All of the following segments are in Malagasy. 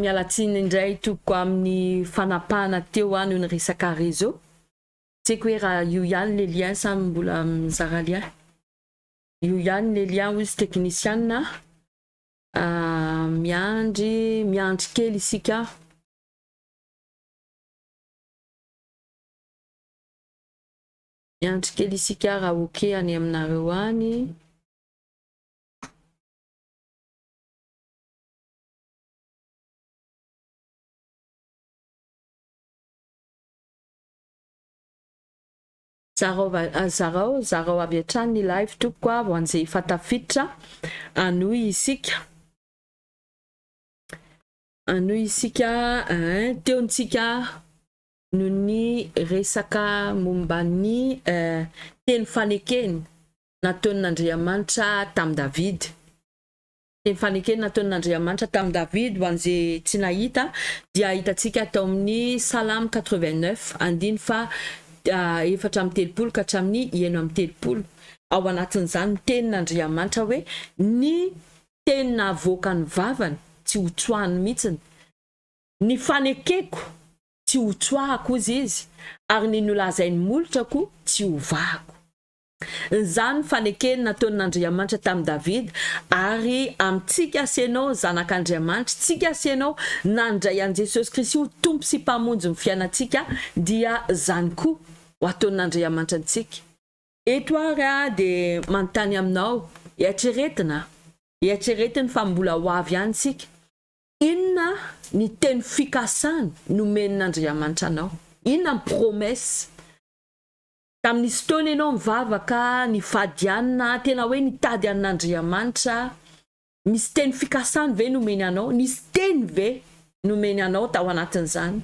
Miala tsiny indray tompoko amin'ny fanapahana teo hoa noho ny resaka réseau. Tsy haiko hoe raha io ihany le lien sa mbola mizara lien. Io ihany le lien hoy izy teknisiana a. Miandry miandry kely isika. Miandry kely isika raha ok any aminareo any. Zarao zarao avy hatrany ny live tompoko a vao hanjefa tafiditra hanohy isika hanohy isika ein teo ntsika no ny resaka momba ny teny fanekena nataon'Andriamanitra tamin'i Davida Ny fanekeny nataon'Andriamanitra tamin'i Davida ho an'izay tsy nahita dia hitantsika tao amin'ny Salamo quatre-vingt-neuf, andiny faha efatra amby telopolo ka hatramin'ny enina amby telopolo. Ao anatin'izany ny tenin'Andriamanitra hoe, Ny teny nahavoakan'ny vavany, tsy ho tsoahiny mihitsy, ny fanekeko, tsy ho tsoahako, hozy izy, ary ny nolazain'ny molotrako, tsy ho vahako. Izany fanekeny nataon'Andriamanitra tamin'i Davida ary amintsika sy ianao zanak'Andriamanitra, tsika sy ianao nandray an'i Jesosy Kristy ho Tompo sy Mpamonjin'ny fiainantsika dia izany koa ho ataon'Andriamanitra antsika. Eto ary aho dia manontany aminao, eritreretina, eritreretiny fa mbola ho avy any isika, inona ny teny fikasany nomen'Andriamanitra anao? Inona ny promesse? Tamin'ny fotoana ianao nivavaka, nifady an'i na tena hoe nitady an'Andriamanitra, misy teny fikasany ve nomeny anao? Nisy teny ve nomeny anao tao anatin'izany?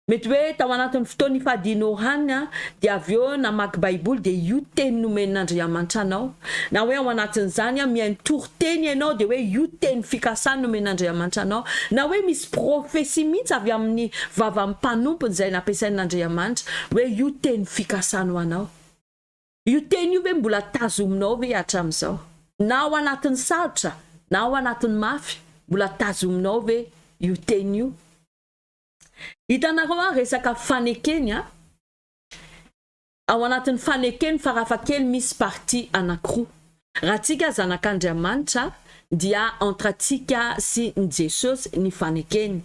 Mety hoe tao anatin'ny fotoana nifadianao hany dia avy eo namaky baiboly dia io teny nomen'Andriamanitra anao na hoe ao anatin'izany mihaino Teny ianao dia hoe io teny fikasany nomen'Andriamanitra anao, na hoe misy prophetie mihitsy avy amin'ny vavan'ny mpanompony izay nampiasain'Andriamanitra hoe io teny fikasany ho anao. Io teny io ve mbola tazominao ve hatramin'izao? Na ao anatin'ny sarotra, na ao anatin'ny mafy, mbola tazominao ve io teny io? Hitanareo an, resaka fanekeny an. ao anatin'ny fanekeny farafakely misy partie anakiroa. Raha tsika zanak'Andriamanitra dia entre antsika sy ny Jesosy ny fanekeny.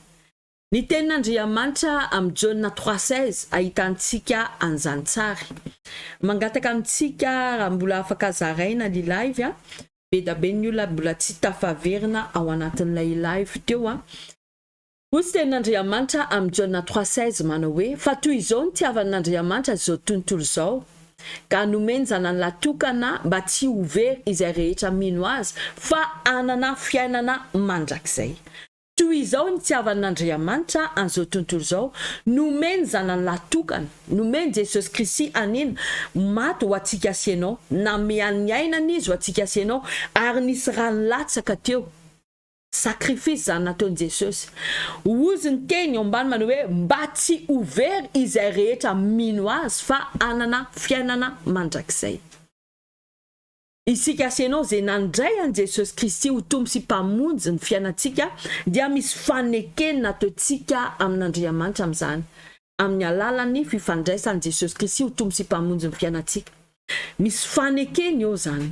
Ny tenin'Andriamanitra amin'ny Jaona trois seize ahitantsika an'izany tsara. Mangataka amintsika raha mbola afaka zaraina ny live a! Bedabe ny olona mbola tsy tafaverina ao anatin'ilay live teo a! Hoy tenin'Andriamanitra amin'i Jaona trois seize manao hoe, Fa toy izao nitiavan'Andriamanitra izao tontolo izao, ka nomeny Zanany lahy tokana mba tsy ho very izay rehetra mino Azy, fa hanana fiainana mandrakizay. Toy izao nitiavan'Andriamanitra an'izao tontolo izao, nomeny Zanany lahy tokana, nomeny Jesosy Kristy hanina, maty ho antsika sy ianao, nameany ny ainany Izy ho antsika sy ianao, ary nisy rano latsaka teo. Sacrifice zany nataony Jesosy. Ozy ny teny eo ambany manao hoe mba tsy ho very izay rehetra mino azy fa hanana fiainana mandrakizay. Isika sy ianao izay nandray an'i Jesosy Kristy ho Tompo sy Mpamonjy ny fiainantsika dia misy fanekeny nataontsika amin'Andriamanitra amin'izany amin'ny alalan'ny fifandraisan'i Jesosy Kristy ho Tompo sy Mpamonjy ny fiainantsika. Misy fanekeny eo izany.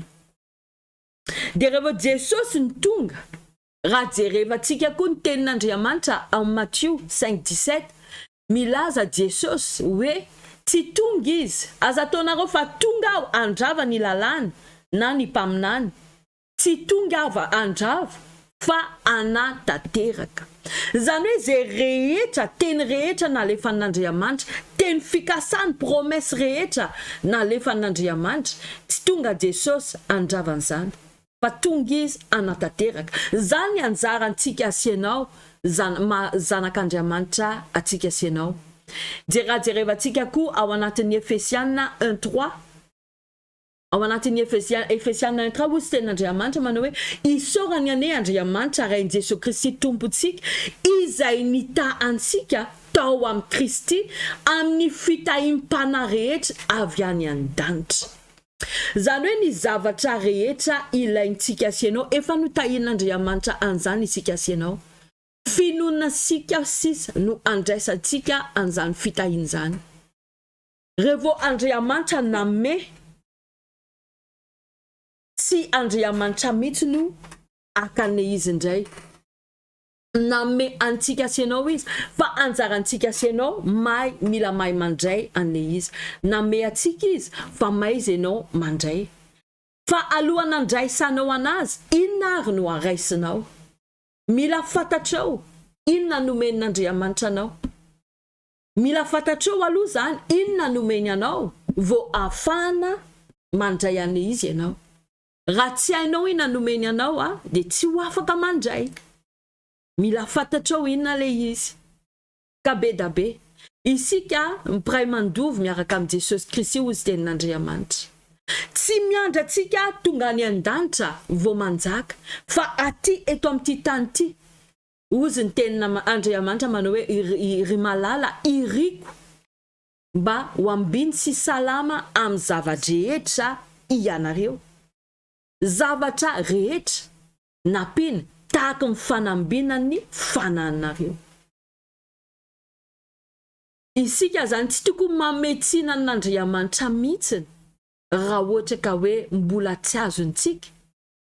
Dia rehefa Jesosy no tonga, raha jerevantsika koa ny tenin'Andriamanitra ao Matio cinq dix sept, milaza Jesosy hoe tsy tonga Izy, aza ataonareo fa tonga Aho handrava ny lalàna na ny mpaminany, tsy tonga Aho handrava fa ana tanteraka. Izany hoe izay rehetra, teny rehetra nalefan'Andriamanitra, teny fikasany, promesse rehetra nalefan'Andriamanitra, tsy tonga Jesosy handrava an'izany, fa tonga Izy hanatanteraka. Izany ny anjarantsika sy ianao, zana, maha zanak'Andriamanitra antsika sy ianao. Jera, jerevantsika koa ao anatin'ny Efesiana un trois. Ao anatin'ny Efesia, Efesiana un ka ozy tenin'Andriamanitra manao hoe, Isaorany anie Andriamanitra Ray n'i Jesoa Kristy Tompontsika, Izay nitaha antsika tao amin'i Kristy amin'ny fitahiam-panahy rehetra avy any an-danitra. Izany hoe ny zavatra rehetra ilaintsika sy ianao, efa notahian'Andriamanitra an'izany isika sy ianao. Finoanasika sisa no andraisantsika an'izany fitahiana izany. Revo Andriamantra namme tsy Andriamanitra mitsy no akane izy ndray namme antsika sy enao izy fa anjarantsika sy enao mahay mila mahay mandray ane izy namme atsika izy fa maiza enao mandray fa alohan andraisanao anazy inona ary no araisinao mila fatatrao inona nomen Andriamanitra anao Mila fantatrao aloha izany inona no omeny anao vao ahafahana mandray an'le izy ianao. Raha tsy hainao inona no omeny anao a, dia tsy ho afaka mandray. Mila fantatrao inona le izy. Ka be da be. Isika mpiray mandovy miaraka amin'i Jesosy Kristy hoy izy tenin'Andriamanitra. Tsy miandry antsika tonga any an-danitra vao manjaka, fa aty eto amin'ity tany ity Hozy ny tenin' Andriamanitra manao hoe, Ry malala, iriko mba ho ambiny sy salama amin'ny zava-drehetra ianareo. Zavatra rehetra nampiana tahaka ny fanambinan'ny fanahinareo. Isika izany tsy tokony manome tsiny an' Andriamanitra mihitsy raha ohatra ka hoe mbola tsy azontsika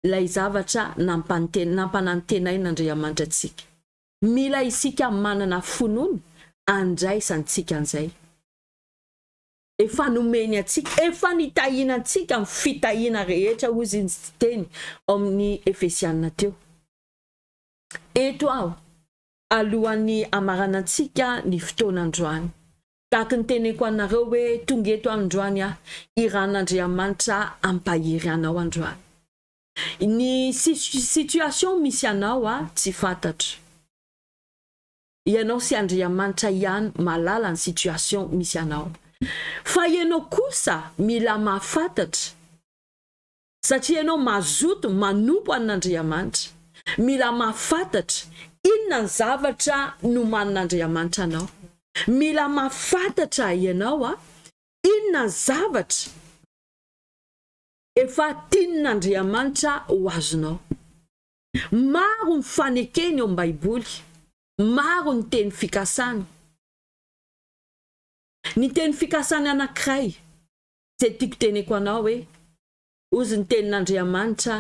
ilay zavatra nampanantenain'Andriamanitra antsika. Mila isika manana finoana handraisantsika an'izay efa nomeny antsika. Efa nitahiana antsika amin'ny fitahiana rehetra, hoy izy niteny ao amin'ny Efesiana teo. Eto aho, alohan'ny hamaranantsika ny fotoana androany, Tahaka ny teneniko anareo hoe tonga eto androany aho, i Ran'Andriamanitra hampahery anao androany. Ny situation misy anao aho tsy fantatro. Ianao sy Andriamanitra ihany mahalala ny situation misy anao. Fa ianao kosa mila mahafantatra satria ianao mazoto manompo an'Andriamanitra, mila mahafantatra inona ny zavatra nomanin'Andriamanitra anao. Mila mahafantatra ianao inona ny zavatra efa tian'Andriamanitra ho azonao. Maro ny fanekeny ao amin'ny Baiboly, maro ny teny fikasana. Ny teny fikasana anankiray Izay tiako teneko anao hoe, Hozy ny tenin'Andriamanitra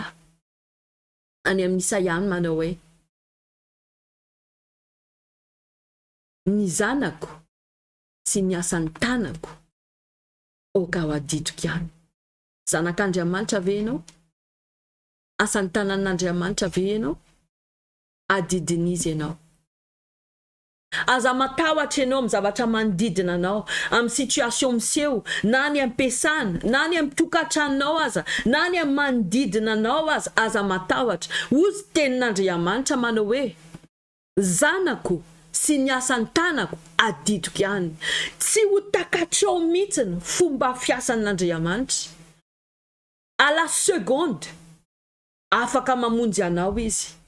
any amin'ny Isaia any manao hoe, Ny zanako sy ny asan'ny tanako aoka ho adidiko ihany. Zanak'Andriamanitra ve ianao? Asan'ny tanan'Andriamanitra ve ianao? Adidin'Izy ianao. Aza matahotra ianao amin'ny zavatra manodidina anao, amin'ny situation miseho, na any am-piasana, na any amin'ny tokantranonao aza, na any amin'ny manodidina anao aza, aza matahotra. Hoy ny tenin'Andriamanitra manao hoe, Zanako sy ny asan'ny tanako adidiko ihany. Tsy ho takatrao mihitsy ny fomba fiasan'Andriamanitra. À la seconde, afaka mamonjy anao Izy.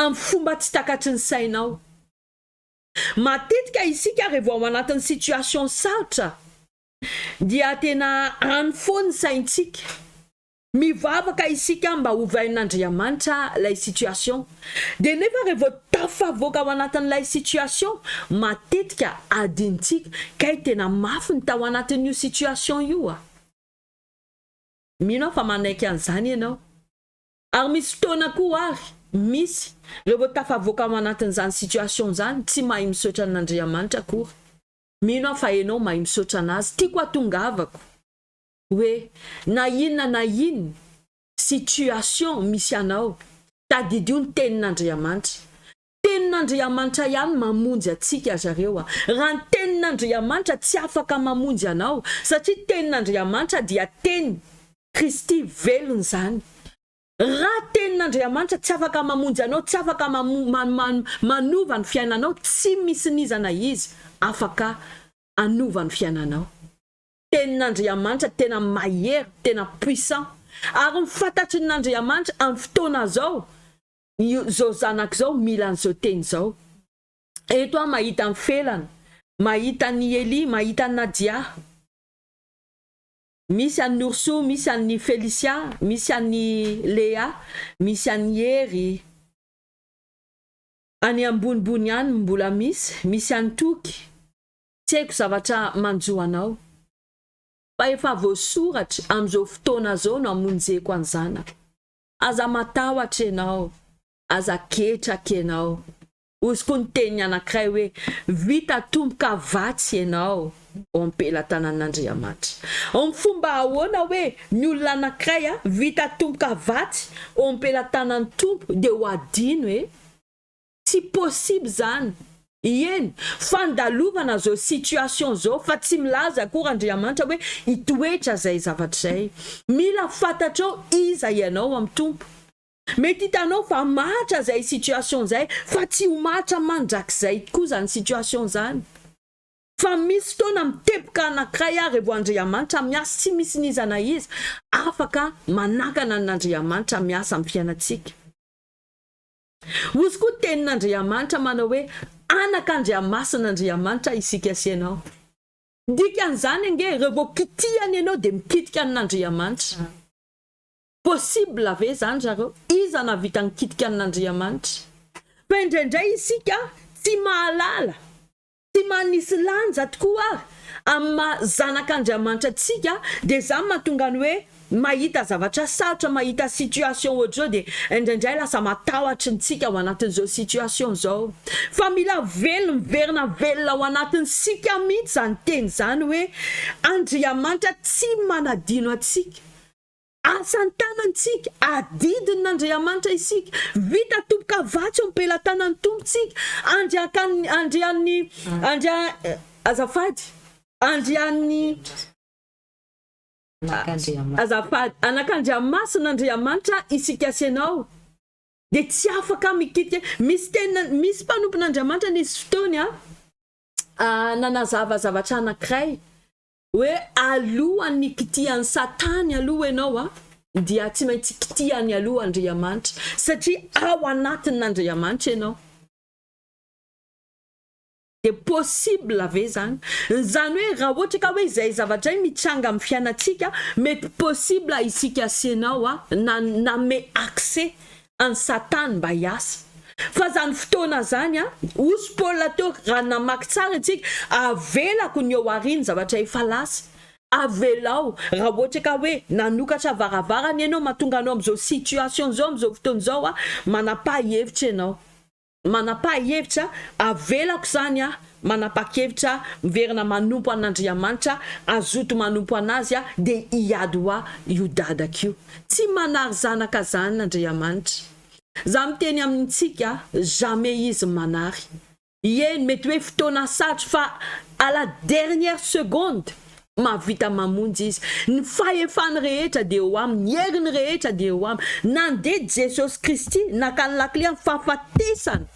amin'ny fomba tsy takatry ny sainao. Matetika isika revo ao anatin'ny situation sarotra dia tena any foana ny saintsika, mivavaka isika mba hovainin'Andriamanitra ilay situation dia nefa revo tafavoaka ao anatin'ilay situation matetika adinontsika kay tena mafy ny tao anatin'io situation io a! Mino aho fa manaiky an'izany ianao. Ary misy fotoana koa ary misy reo tafavoaka ao anatin zany situation zany tsy mahay misaotra an Andriamanitra akory, mino aho fa enao mahay misaotra anazy, tiako atongavako oe na inona na inona situation misy anao tadidio ny tenin Andriamanitra Tenin'Andriamanitra ihany mamonjy antsika ry zareo a! Raha ny Tenin'Andriamanitra tsy afaka mamonjy anao satria Tenin'Andriamanitra dia Teny, Kristy velona izany. Raha Tenin'Andriamanitra tsy afaka mamonjy anao, tsy afaka manova ny fiainanao, tsy misy nizana Izy afaka hanova ny fiainanao. Tenin'Andriamanitra tena mahery, tena puissant. Ary ny fantatry ny Andriamanitra amin'ny fotoana izao io zao zanako zao mila an'izao teny izao. Eto aho mahita an'i Felana, mahita an'i Elia, mahita an'i Nadia. Misy an'i Nourso, misy an'i Felicia, misy an'i Lea, misy an'i Hery. Any ambonimbony any mbola misy, misy an'i Toky. Tsy haiko zavatra manjo anao. Fa efa voasoratra, amin'izao fotoana izao no amonjeko an'i zanako. Aza matahotra ianao, aza ketraka ianao. Hozy koa ny teniny anankiray hoe, Vita tomboka vatsy ianao ao am-pelatanan'Andriamanitra. Amin'ny fomba ahoana hoe ny olona anankiray vita tomboka vatsy ao am-pelatanan'ny Tompo dia ho adino e? Tsy possible zany. Ieny, fandalovana zao situation zao fa tsy milaza akory Andriamanitra hoe hitoetra zay zavatra zay. Mila fantatrao iza ianao am Tompo. Mety hitanao fa mahatra zay situation zay fa tsy ho mahatra mandrakizay tokoa zany situation zany. Fa misy fotoana miteboka anakiray ary vao Andriamanitra miasa tsy misy n'iza na iza afaka manakana an'Andriamanitra miasa am fiainantsika. Hozy koa tenin'Andriamanitra manao hoe anak'Andriamasin'Andriamanitra isika sy ianao. Dikan'izany ange raha vao kitihana ianao dia mikitika an'Andriamanitra. Possible ve izany zareo? Iza nahavita nikitika an'Andriamanitra? Fa indraindray isika tsy mahalala Tsy manisy lanja tokoa ary amin'ny maha zanak'Andriamanitra antsika dia izany mahatonga ny hoe mahita zavatra sarotra, mahita situation ohatr'izao dia indraindray lasa matahotry ny tsika ao anatin'izao situation izao. Fa mila velona, miverina velona ao anatintsika mihitsy izany teny izany hoe Andriamanitra tsy manadino antsika. Asa an-tanantsika, adidin' ny Andriamanitra isika, vita toboka vatsy eo am-pelatanan' ny Tompo tsika, andriakan' ny, andrian' ny, andria, azafady, andrian' ny, azafady, anak' Andriamasina Andriamanitra isika sy ianao, dia tsy afaka mikitika, misy tena, misy mpanompon' Andriamanitra nisy fotoana nanazava zavatra anankiray, hoe alohan ny kitihan ny satany aloha enao a dia tsy maintsy kitihany aloha andriamanitra satria ao anatin ny andriamanitra enao de possible ve zany zany hoe raha ohatra ka hoe zay zavatra zay mitranga am fiainatsika mety possible isika sy enao a na nanome accès an'i Satana mba hiasa. Fa izany fotoana izany, hozy Paul teo, raha namaky tsara isika, avelako ny eo aorian'ny zavatra efa lasa. Avelao, raha ohatra ka hoe nanokatra varavarana ianao mahatonga anao amin'izao situation izao, amin'izao fotoana izao, manapaha-hevitra ianao. Manapahihevitra, Avelako izany aho manapakevitra miverina manompo an'Andriamanitra, azoto manompo an'azy aho dia hiady hoa io dadako io. Tsy manary zanaka zany Andriamanitra. Za miteny amintsika jamais izy manary. Ieny mety hoe fotoana sarotra fa à la dernière seconde. Mahavita mamonjy Izy. Ny fahefany rehetra dia eo Aminy, ny heriny rehetra dia eo Aminy. Nandidy Jesosy Kristy, naka ny lakile amin'ny fahafatesana.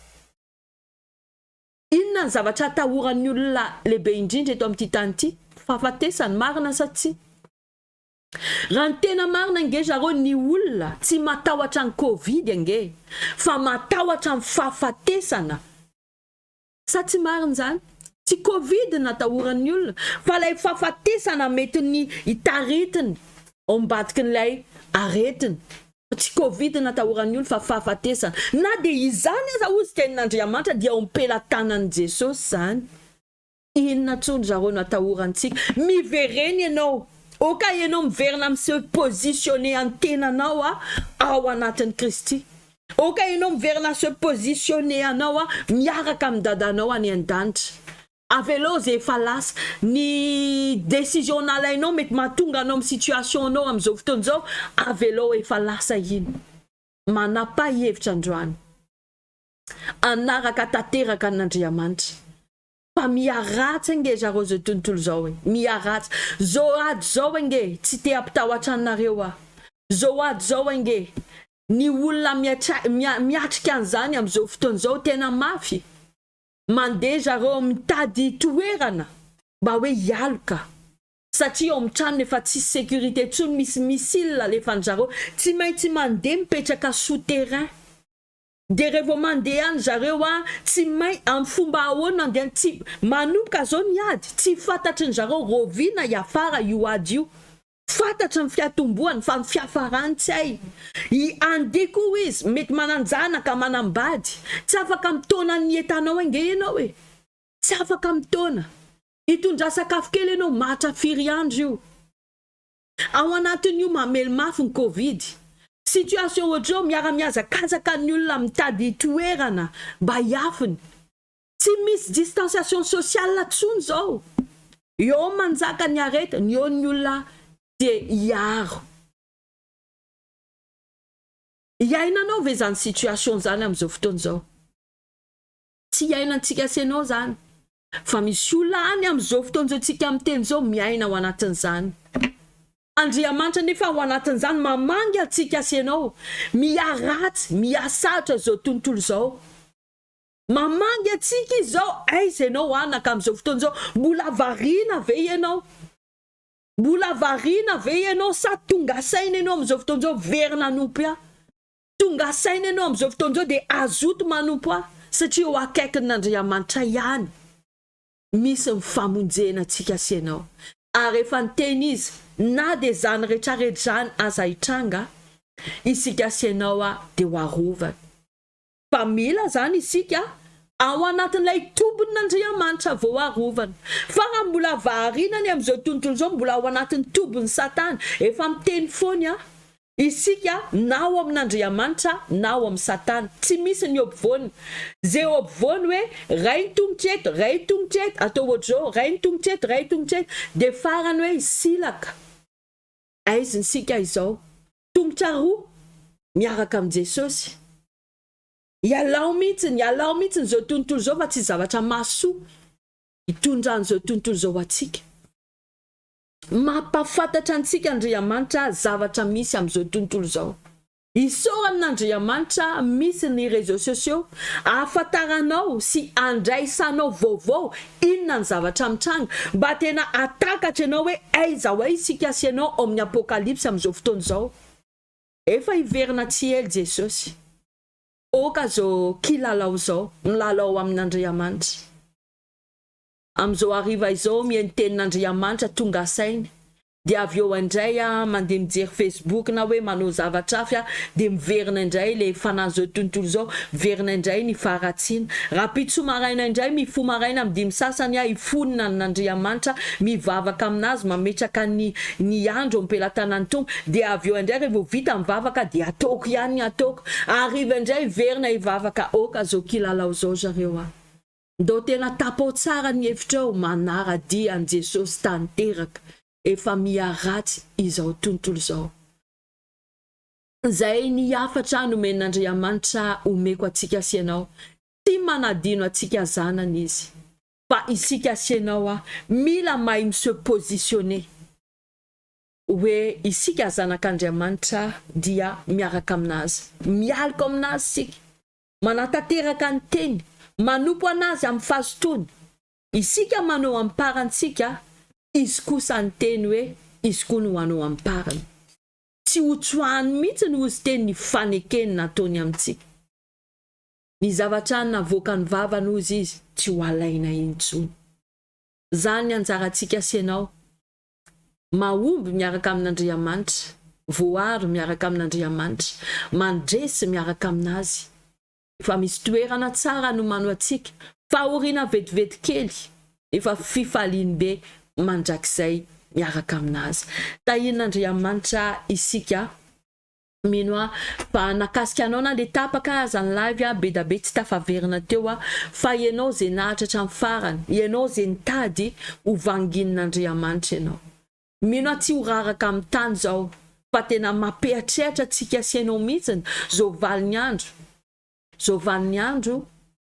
Inona ny zavatra atahoran'ny olona lehibe indrindra eto amin'ity tany ity? Fahafatesana, marina sa tsia? Raha ny tena marina ange zareo ny olona tsy matahotra ny covid ange, fa matahotra ny fahafatesana. Sa tsy marina izany? Tsy covid no atahoran'ny olona fa ilay fahafatesana mety ny hitaritiny ao ambadikin'ilay aretina. Tsy covid no atahoran'ny olona fa fahafatesana. Na dia izany aza hozy ka henon'Andriamanitra dia ao am-pelatanan'i Jesosy izany. Inona tsoa ry zareo no atahorantsika? Miverena ianao, ok ianao miverina miseho positionner ny tenanao ao anatin'i Kristy. Ok enao miverina se positionner anao a miaraka amin'ny dadanao any an-danitra, avelao ze efa lasa, ny decision nalainao mety mahatonga anao amin'ny situation anao amin'izao fotoana izao, avelao efa lasa iny, manapaha hevitra androany, hanaraka tanteraka an'Andriamanitra. Fa miharatsy ange zareo zao tontolo zao e! Miharatsy! Zao ady zao ange tsy te hampitahotra anareo aho! Zao ady zao ange ny olona miatra miatrika an'izany am'zao fotoana zao tena mafy! Mandeha zareo mitady toerana mba hoe hialoka satria ao amin'ny tranony efa tsisy sécurité tsony misy missile alefan'zareo! Tsy maintsy mandeha mipetraka sous terrain! Dia revo mandeha any zareo an tsy main am fomba ahoana andeha any tsy manomboka zao ny ady tsy fatatry ny zareo roviana hiafara io ady io fatatry ny fiatombohany fa ny fiafarany tsy hay i andeha ko izy mety mananjanaka manambady tsy afaka am taona ny etanao ange ianao e tsy afaka am taona hitondra sakafo kely ianao mahatra firy andro io. Ao anatin'io mamely mafy ny covid, situation ohatr'izao miara-mihazakazaka ny olona mitady toerana mba hiafiny, tsy misy distanciation sociale intsony izao, eo manjaka ny arety, ny eo ny olona te hiaro. Iainanao ve izany situation izany amin'izao fotoana izao? Tsy iainantsika sy ianao izany Fa misy olona any amin'izao fotoana izao tsika miteny izao miaina ao anatin'izany. Andriamanitra anefa ao anatin'izany mamangy antsika sy ianao miharatsy, mihasaritra izao tontolo izao. Mamangy antsika izy izao, aiza ianao anaka amin'izao fotoana izao? Mbola variana ve ianao? Mbola variana ve ianao sa tonga saina ianao amin'izao fotoana izao very nanompo ahy? Tonga saina ianao amin'izao fotoana izao dia azoto manompo ahy satria eo akaikin'Andriamanitra ihany misy ny famonjena antsika sy ianao. Ary efa niteny izy, na dia izany rehetrarehetra izany aza hitranga, isika sy ianao dia ho arovana. Fa mila izany isika ao anatin'ilay tobin'Andriamanitra vao arovana. Fa raha mbola variana ny amin'izao tontolo izao, mbola ao anatin'ny tobin'i Satana, efa miteny foana aho, Isika na ao amin' Andriamanitra na ao amin' Satana. Tsy misy ny hopvoany. Ze hopvoany hoe ray ny tongotra eto, ray ny tongotra eto, atao ohatr'izao, ray ny tongotra eto, ray ny tongotra eto, dia farany hoe hisilaka. Aiza isika izao? Tongotra roa miaraka amin' Jesosy. Ialao mihitsy, ialao mihitsy izao tontolo izao fa tsy zavatra mahasoa hitondra an'izao tontolo izao ho antsika. Mampahafantatra antsika Andriamanitra zavatra misy amin'izao tontolo izao. Isaorana Andriamanitra misy ny réseaux sociaux ahafantaranao sy andraisanao vaovao inona ny zavatra mitranga mba tena hahatakatra ianao hoe aiza ho aiza isika sy ianao ao amin'ny apokalypsy amin'izao fotoana izao. Efa hiverina tsy ela Jesosy. Aoka izao kilalao izao milalao amin'Andriamanitra. Amin'izao hariva izao mihaino tenin'Andriamanitra tonga saina, dia avy eo indray aho mandeha mijery Facebook na hoe manao zavatra hafa aho, dia miverina indray ilay fanahin'izao tontolo izao, miverina indray ny faharatsiana. Rahampitso maraina indray, mifoha maraina amin'ny dimy sasany aho, hifonona an'Andriamanitra, mivavaka amin'Azy, mametraka ny ny andro eo am-pelatanan'ny Tompo, dia avy eo indray revo vita ny vavaka dia ataoko ihany ny ataoko, hariva indray hiverina hivavaka, aoka izao kilalao izao zareo a! Ndao tena tapao tsara ny hevitrao manara dia an'i Jesosy tanteraka efa miha ratsy izao tontolo izao. Izay ny hafatra nomen'Andriamanitra omeko antsika sy ianao, tsy manadino antsika zanany izy. Fa isika sy ianao a, mila mahay mi se positionner hoe isika zanak'Andriamanitra dia miaraka amin'azy, mialoka amin'azy isika. manatanteraka ny teny, manompo an'Azy amin'ny fazotoany. Isika manao amim-parantsika, Izy kosa niteny hoe, Izy koa no hanao amim-parany. Tsy hotsoahany mihitsy ny hozi-teny ny fanekeny nataony amintsika. Ny zavatra navoakan'ny vavany, hozy Izy, tsy ho alaina intsony. Izany ny anjarantsika sy ianao, Mahomby miaraka amin'Andriamanitra, voaro miaraka amin'Andriamanitra, mandresy miaraka amin'Azy. Efa misy toerana tsara nomano antsika, fahoriana vetivety kely, nefa fifaliany be mandrakizay miaraka amin'Azy. Tahian'Andriamanitra isika Mino aho fa nakasika anao na le tapaka aza ny live a, bedabe tsy tafaverina teo a, fa ianao ze naharitra hatramin'ny farany, ianao ze nitady ho vanginin'Andriamanitra ianao. Mino aho tsy ho raraka amin'ny tany zao fa tena mampiatriatra antsika sy ianao mihitsiny zo valin'ny andro. Zao valin'ny andro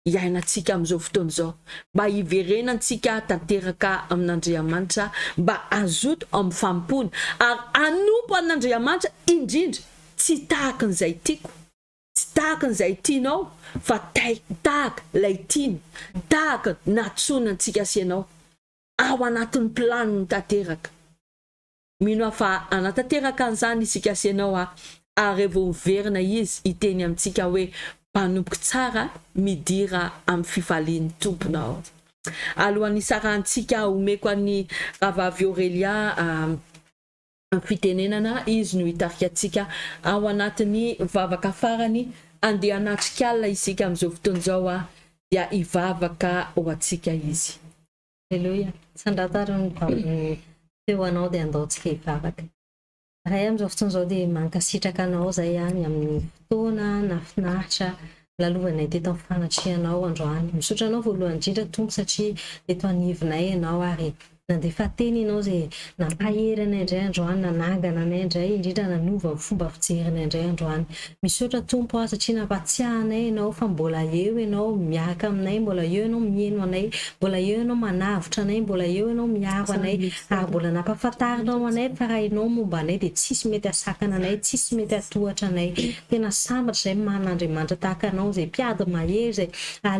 iainantsika amin'izao fotoana izao, mba hiverenantsika tanteraka amin'Andriamanitra, mba hazoto amin'ny fanompoana, ary hanompo an'Andriamanitra indrindra, tsy tahaka an'izay tiako, tsy tahaka an'izay tianao, fa tay, tahaka ilay tiany, tahaka natsoina antsika sy ianao, ao anatin'ny planiny tanteraka. Mino aho fa hanatanteraka an'izany isika sy ianao a! ary revo miverina izy hiteny amintsika hoe mpanompo tsara midira amin'ny fifalian'ny tomponao. Alohan'ny hisarahantsika aho omeko an'i Rahavavy Aurelia fitenenana, izy no hitarika antsika ao anatin'ny vavaka farany handeha hanatrika alina isika amin'izao fotoana izao a! dia hivavaka ho antsika izy. Aleloia! Sandrata ary ny vavon'ny feo anao dia andao tsy hivavaka. Ray amin'izao fotoana izao dia mankasitraka anao izay any amin'ny fotoana nahafinaritra lalovanay teto amin'ny fanatrehanao androany. Misaotra anao voalohany indrindra Tompo satria eto anivonay ianao ary nandefa teny ianao izay Nampahery anay indray androany, nanangana anay indray, indrindra nanova ny fomba fijerinay indray androany. Misaotra Tompo a, satria nampatsiahy anay Ianao fa mbola eo Ianao miaraka aminay, mbola eo Ianao mihaino anay, mbola eo Ianao manavotra anay, mbola eo Ianao miaro anay, ary mbola nampahafantarinao anay fa raha Ianao momba anay dia tsisy mety hasakana anay, tsisy mety hatohatra anay. Tena sambatra izay manana Andriamanitra tahaka Anao, izay mpiady mahery, izay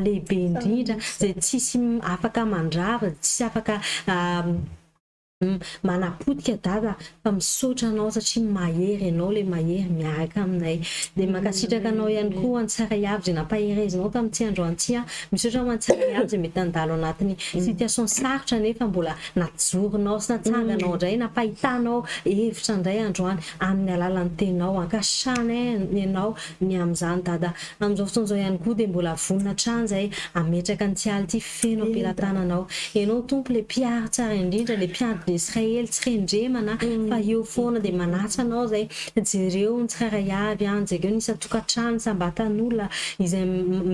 lehibe indrindra, izay tsisy afaka mandrava, izay tsisy afaka Manapotika dada fa misaotra anao satria mahery ianao ilay mahery miaraka aminay dia mankasitraka anao ihany koa ho an'i Tsaraiavo izay nampaherezinao tamin'ity androany ity an! misaotra ho an'i Tsaraiavo izay mety nandalo anatin'ny situation sarotra nefa mbola najoronao sy natsanganao indray nampahitanao hevitra indray androany amin'ny alalan'ny teninao ankasitrahana ianao ny amin'izany dada amin'izao fotoana izao ihany koa dia mbola vonona hatrany izahay hametraka an'ity alina ity Feno am-pelatanana aho. Ianao Tompo ilay Mpihary tsara indrindra, ilay Mpiady ny Israely, tsy rendremana fa eo foana dia manatsa Anao izay. Jereo ny tsirairay avy an, jereo ny isan-tokantrano, isam-batan'olona izay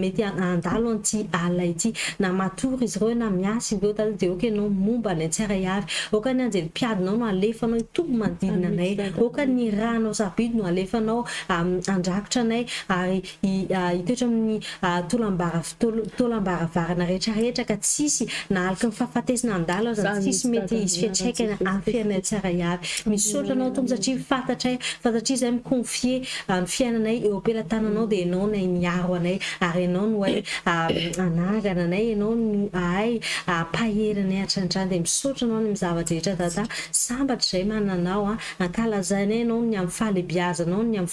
mety handalo an'ity alina ity. Na matory izy ireo na miasa izy ireo Dada dia aoka Ianao momba ny tsirairay avy. Aoka ny anjely mpiadinao no alefanao hitoby manodidina anay. Aoka ny Ranao sarobidy no alefanao handrakotra anay ary hitoetra amin'ny taolam-baravarana rehetrarehetra ka tsy hisy na aloky ny fahafatesana handalo aza ny sisy mety hisy fiantraikany amin'ny fiainanay tsiraiavy. Misaotra anao Tompo satria fantatray fa satria izahay mi-confier ny fiainanay eo am-pelatananao dia ianao no hay miaro anay ary ianao no hay hanangana anay, ianao no hay hampahery anay hatrany hatrany dia misaotra anao any amin'ny zava-drehetra Dada, sambatra izahay manana anao, ankalazainay ianao ny amin'ny fahalebiazanao, ny amin'ny.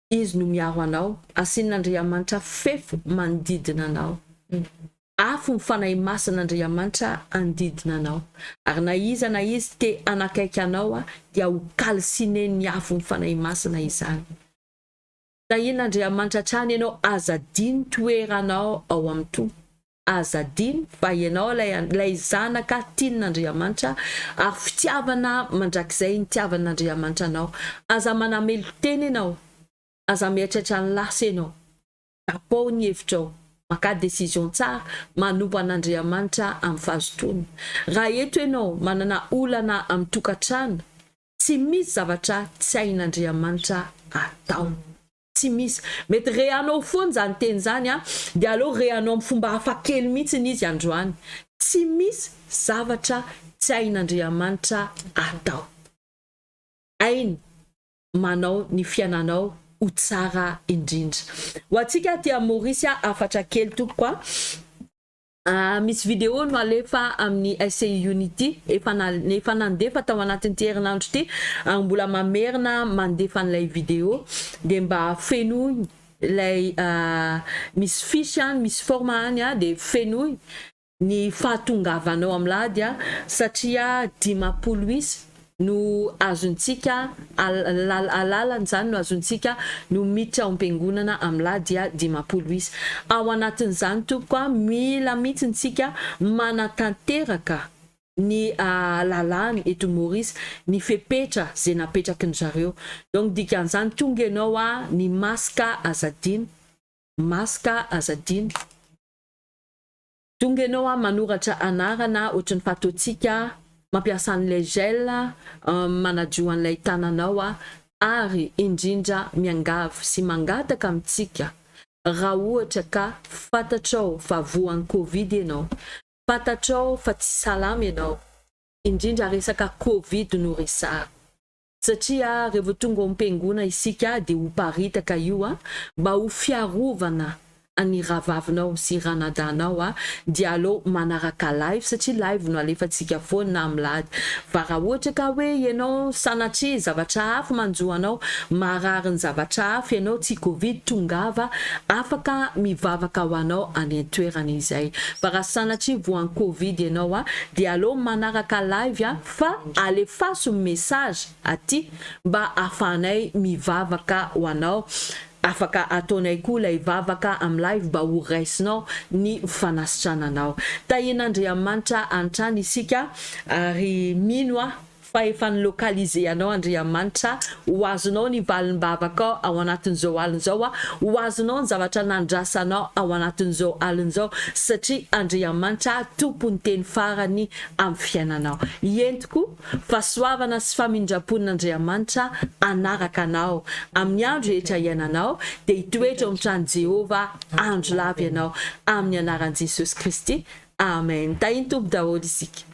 Izy no miaro anao, asian'Andriamanitra fefy manodidina anao. Afo ny Fanahy Masin'Andriamanitra hanodidina anao. Ary na iza na iza te hanakaiky anao dia ho kalsinen'ny afo ny Fanahy Masina izany. Tahian'Andriamanitra hatrany ianao, aza adino ny toeranao ao amin'ny Tompo. Aza adino fa ianao ilay ilay zanaka tian'Andriamanitra ary fitiavana mandrakizay nitiavan'Andriamanitra anao. Aza manamelo-tena ianao, aza mieritreritra ny lasa ianao. Tapaho ny hevitrao, makà décision tsara, manompo an'Andriamanitra amin'ny fahazotoana. Raha eto ianao manana olana amin'ny tokantrano, tsy misy zavatra tsy hain'Andriamanitra atao. Tsy misy. Mety rehanao foana izany teny izany an, dia aleo rehanao amin'ny fomba hafa kely mihitsy izy androany. Tsy misy zavatra tsy hain'Andriamanitra atao. Hainy manao ny fiainanao ho tsara indrindra. Ho antsika aty amin'ny Maorisy hafatra kely tompoko an. Misy vidéo no alefa amin'ny SCI Unity efa efa nandefa tao anatin'ity herinandro ity ary mbola mamerina mandefa an'ilay vidéo dia mba fenoy ilay misy fiche any misy forme any dia fenoy ny fahatongavanao amin'ilay ady satria dimampolo isa no azontsika alalan'izany no azontsika no miditra ao am-piangonana amin'ny lahy dia dimampolo isa ao anatin'izany tompoko a mila mihitsy ntsika manatanteraka ny lalàna eto Maurice ny fepetra ze napetraky ny zareo donc dikan'izany tonga ianao a ny masque aza adino masque aza adino. Donga enao a manoratra anarana ohatry ny fatoantsika mampiasa an'ilay gel manadio an'ilay tananao a ary indrindra miangavy sy mangataka amintsika raha ohatra ka fantatrao fa voan'ny covid enao fantatrao fa tsy salama enao indrindra resaka covid no resahako Satria revo tonga ao ampengona isika dia ho paritaka io a, mba ho fiarovana an'i ravavinao sy ranadahinao a, dia aleo manaraka live satria live no alefantsika foana na milady, fa raha ohatra ka hoe ianao sanatria zavatra hafa manjo anao, marary ny zavatra hafa ianao tsy covid tongava afaka mivavaka ho anao any antoerana izay, fa raha sanatria voan'ny covid ianao a, dia aleo manaraka live a. fa alefaso ny message aty mba afahanay mivavaka ho anao, afaka ataonay koa ilay vavaka am live mba ho raisinao ny fanasitrananao. Tahian'Andriamanitra hatrany isika ary mino aho fa efa ni localiser anao Andriamanitra, ho azonao ny valim-bavakao ao anatin'izao alina izao, ho azonao ny zavatra nandrasanao ao anatin'izao alina izao satria Andriamanitra tompon'ny teny farany amin'ny fiainanao. Entiko fahasoavana sy famindram-pon'Andriamanitra hanaraka anao amin'ny andro rehetra iainanao, dia hitoetra ao amin'ny tranon'i Jehovah andro lava ianao, amin'ny anaran'i Jesosy Kristy, amen. Tahin'ny Tompo daholo isika.